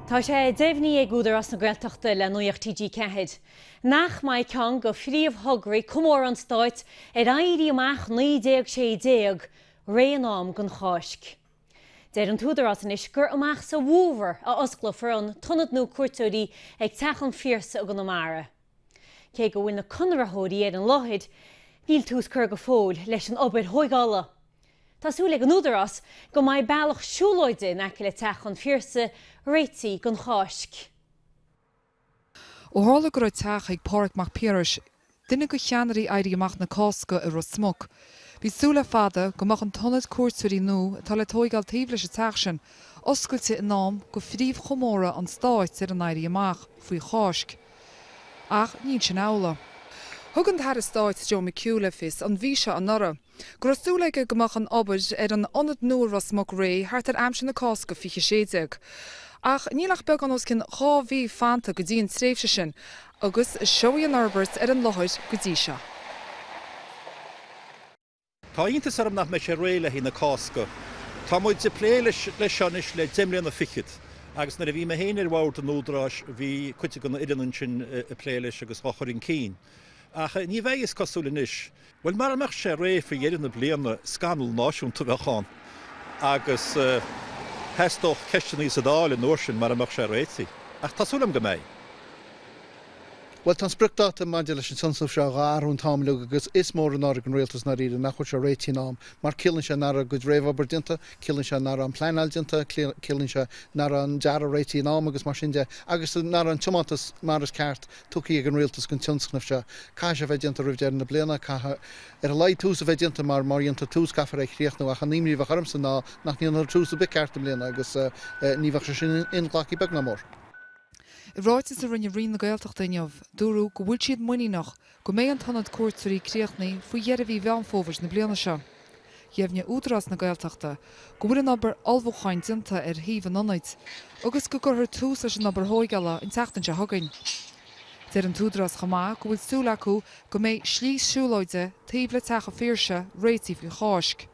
Tá sé deimhnithe ag Údarás na Gaeltachta le Nuaíocht TG4 nach mbeidh ceann de phríomhthograí comórtha an stáit ar Éirí Amach 1916 réidh in am don Cháisc. Deir an tÚdarás anois gur amach sa bhFómhar a osclófar an t-ionad nua cuairteoirí ag Teach an Phiarsaigh i gConamara. Cé go bhfuil na conraitheoirí ar an láthair, níl tús curtha go fóill leis an obair thóigála. Tá súil ag an Údarás go mbeidh bealach siúlóide in aice le Teach an Phiarsaigh réitigh don Cháisc. Ó tharla go raibh teach ag Páraic Mac Piarais, duine de cheannairí Éirí Amach na Cásca i Ros Muc, bhí súil le fada go mbeadh an t-ionad cuairteoirí nua atá le tóigeáil taobh leis an teach sin, oscailte in am do phríomhchomóradh an Stáit ar an Éirí Amach faoi Cháisc. Ach níl sin amhlaidh. Thug an tAire Stáit Joe McHugh le fios an mhí seo anuraidh go raibh súil aige go mbeadh an obair ar an ionad nua i Ros Muc réidh thart ar aimsir na Cásca 2016. Ach níl ach beagán os cionn dhá mhí fanta go dtí an tréimhse sin agus seo í an fhorbairt ar an láthair go dtí seo. Tá iontas orm nach mbeidh sé réidh le haghaidh na Cásca. Tá muid ag plé leis seo anois le deich mbliana fichead agus nuair a bhí mé féin ar bhord an Údaráis bhí cuid den fhoireann ansin ag plé leis agus á chur chun cinn. Ach ní bheidh, is cosúil anois. Bhuel, mara mbeadh sé réidh faoi dheireadh na bliana, scannal náisiúnta a bheadh ann agus theastódh ceisteannaí sa Dáil an uair sin mara mbeadh sé réitigh. Ach tá súil agam go mbeidh. Bhuel, tá an spriocdáta maidir leis an tionscnamh seo dhá athrú an t-am uilig agus is mór an náire ag an Rialtas i ndáiríre nach bhfuil sé réitithe in am mar ciallaíonn sé nach raibh a gcuid réamhobair déanta, ciallaíonn sé nach raibh an pleaineáil déanta, ciallaíonn sé nach raibh an dearadh réitithe in am agus mar sin de agus nach raibh an tiomantas mar is ceart tugtha ag an Rialtas don tionscnamh seo. Caithfidh sé a bheith déanta roimh deireadh na bliana, caithfidh ar a laghad tús a bheith déanta mar má dhéantar tús caithfear é a chríochnú ach an imní a bheadh ormsa ná nach ndéanfar tús ar bith ceart i mbliana agus ní bheadh sé sin inghlactha beag ná mór. I ráiteas a rinne Roinn na Gaeltachta inniu, dúradh go bhfuil siad muiníneach go mbeidh an t-ionad cuairteoirí críochnaithe faoi dheireadh mhí Mheán Fómhair na bliana seo. Dheimhnigh Údarás na Gaeltachta go bhfuil an obair ullmhúcháin déanta ar shuíomh an ionaid agus go gcuirfear tús leis an obair thóigeála an tseachtain seo chugainn. Deir an tÚdarás chomh maith go bhfuil súil acu go mbeidh slí siúlóide taobh le Teach a' Phiarsaigh réitithe faoi Cháisc.